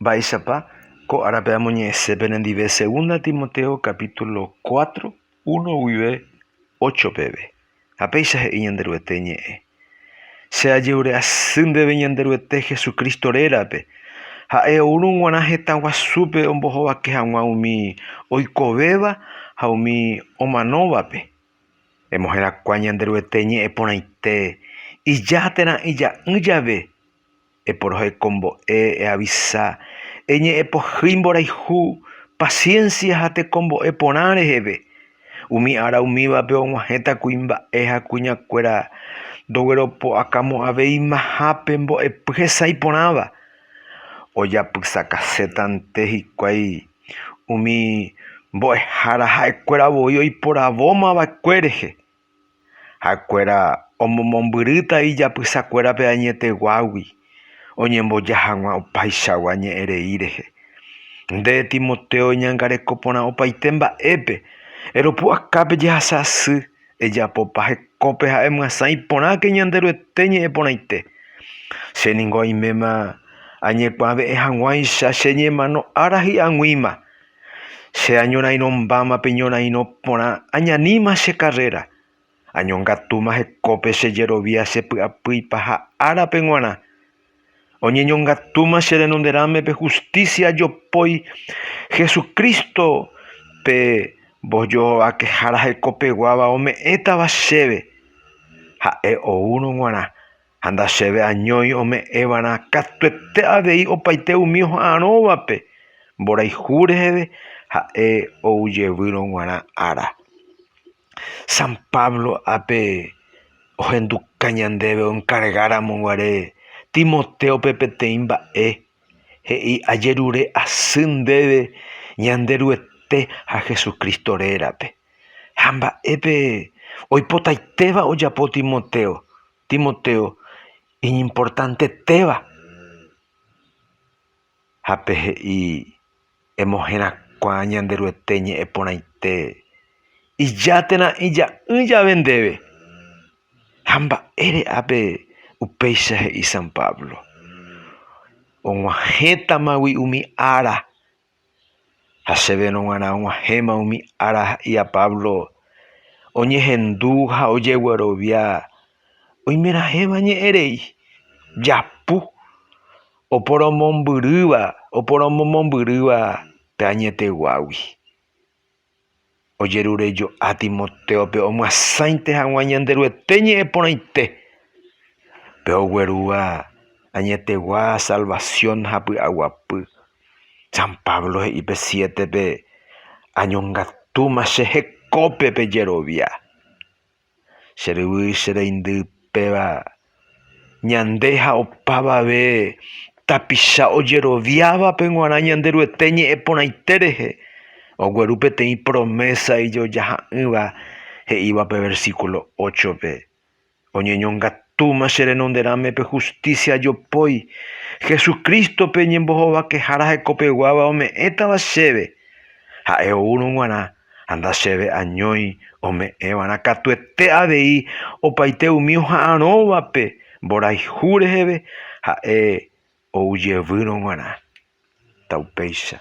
Mba'éichapa ko árape amoñe'ẽse penendive Segunda Timoteo capítulo cuatro, uno guive ocho peve, ha péicha he'i Ñanderuete ñe'ẽ, Che ajevyre'asy ndéve Ñanderuete Jesucristo rérape, ha'e oúrõ g̃uarã heta guasúpe ombohovake hag̃ua umi oikovéva ha umi omanóvape. Emoherakuã Ñanderuete ñe'ẽ porãite, ija térã ija'ỹ jave Eporohai ko mbo'e, eavisa, eñe'ẽ pohýi mborayhu, paciencia ha tekombo'e porã reheve. Umi ára umívape og̃uahẽta kuimba'e ha kuñakuéra ndogueropu'akamo'ãveimahápe mbo'epy hesãi porãva. Ojapysakasétante hikuái umi mbo'ehára ha'ekuéra voi oiporavomava'ekue rehe. Ha'ekuéra omomombyrýta ijapysakuérape añeteguágui oñemboja hag̃ua opaichagua ñe'ẽ rei rehe. Nde, Timoteo, eñangareko porã opaite mba'épe, eropu'aka pe jehasa asy, ejapopa hekópe ha emyasã iporãke Ñanderuete ñe'ẽ porãite. Che ningo oiméma añekuave'ẽ hag̃uáicha che ñemano ára hi'aguĩma. Che añorairõmbáma pe ñorairõ porã añaníma che karréra, añongatúma hekópe che jerovia che py'apýipa ha árape g̃uarã. Oñeñongatúma che renonderãme pe hustísia ajopói Hesu Crísto pe mbojovakehára hekopeguáva ome'ẽtava chéve, ha'e oúrõ g̃uarã ha nda chéve añói ome'ẽvarã katuete avei opaite umi oha'arõvape mborayhu reheve ha'e oujevýrõ g̃uarã ára. San Pablo ápe ohenduka ñandéve oenkargáramo guare Timotéope peteĩ mba'e, he'i, Ajerure asy ndéve Ñanderuete ha Jesucristo rérape. Ha mba'épe oipotaitéva ojapo Timoteo Timoteo iñimportantetéva ha pe he'i emoherakuã Ñanderuete ñe'ẽ porãite ija térã ija'ỹ jave ndéve. Ha mba'ére ápe upéicha he'i San Pablo? Og̃uahẽtamagui umi ára Ha chéve nog̃uarã og̃uahẽma umi ára ha'ía Pablo oñehendu ha ojeguerovia oimeraẽva ñe'ẽrei japu oporomombyrýva pe añeteguágui. ojerurejo'a Timotéope omyasãite hag̃ua Ñanderuete ñe'ẽ porãite, pe oguerúva añetegua salvasión ha py'aguapy. San Pablo he'i pe siétepe, Añongatúma che hekópe pejerovia. Che ryvy che reindy péva ñande ha opavave tapicha ojeroviávape g̃uarã Ñanderuete ñe'ẽ porãite rehe, ogueru peteĩ promésa ijojaha'ỹva he'íva pe versíkulo óchope, Oñeñongatúma che renonderãme pe hustísia jopói, Hesu Crístope ñembohovakehára hekopeguáva ome'ẽtava chéve, ha'e oúrõ g̃uarã Ha ndachéve añói ome'ẽva'erã katuete avei opaite umi oha'arõvape mborayhu reheve ha'e oujevýrõ g̃uarã. Taupéicha.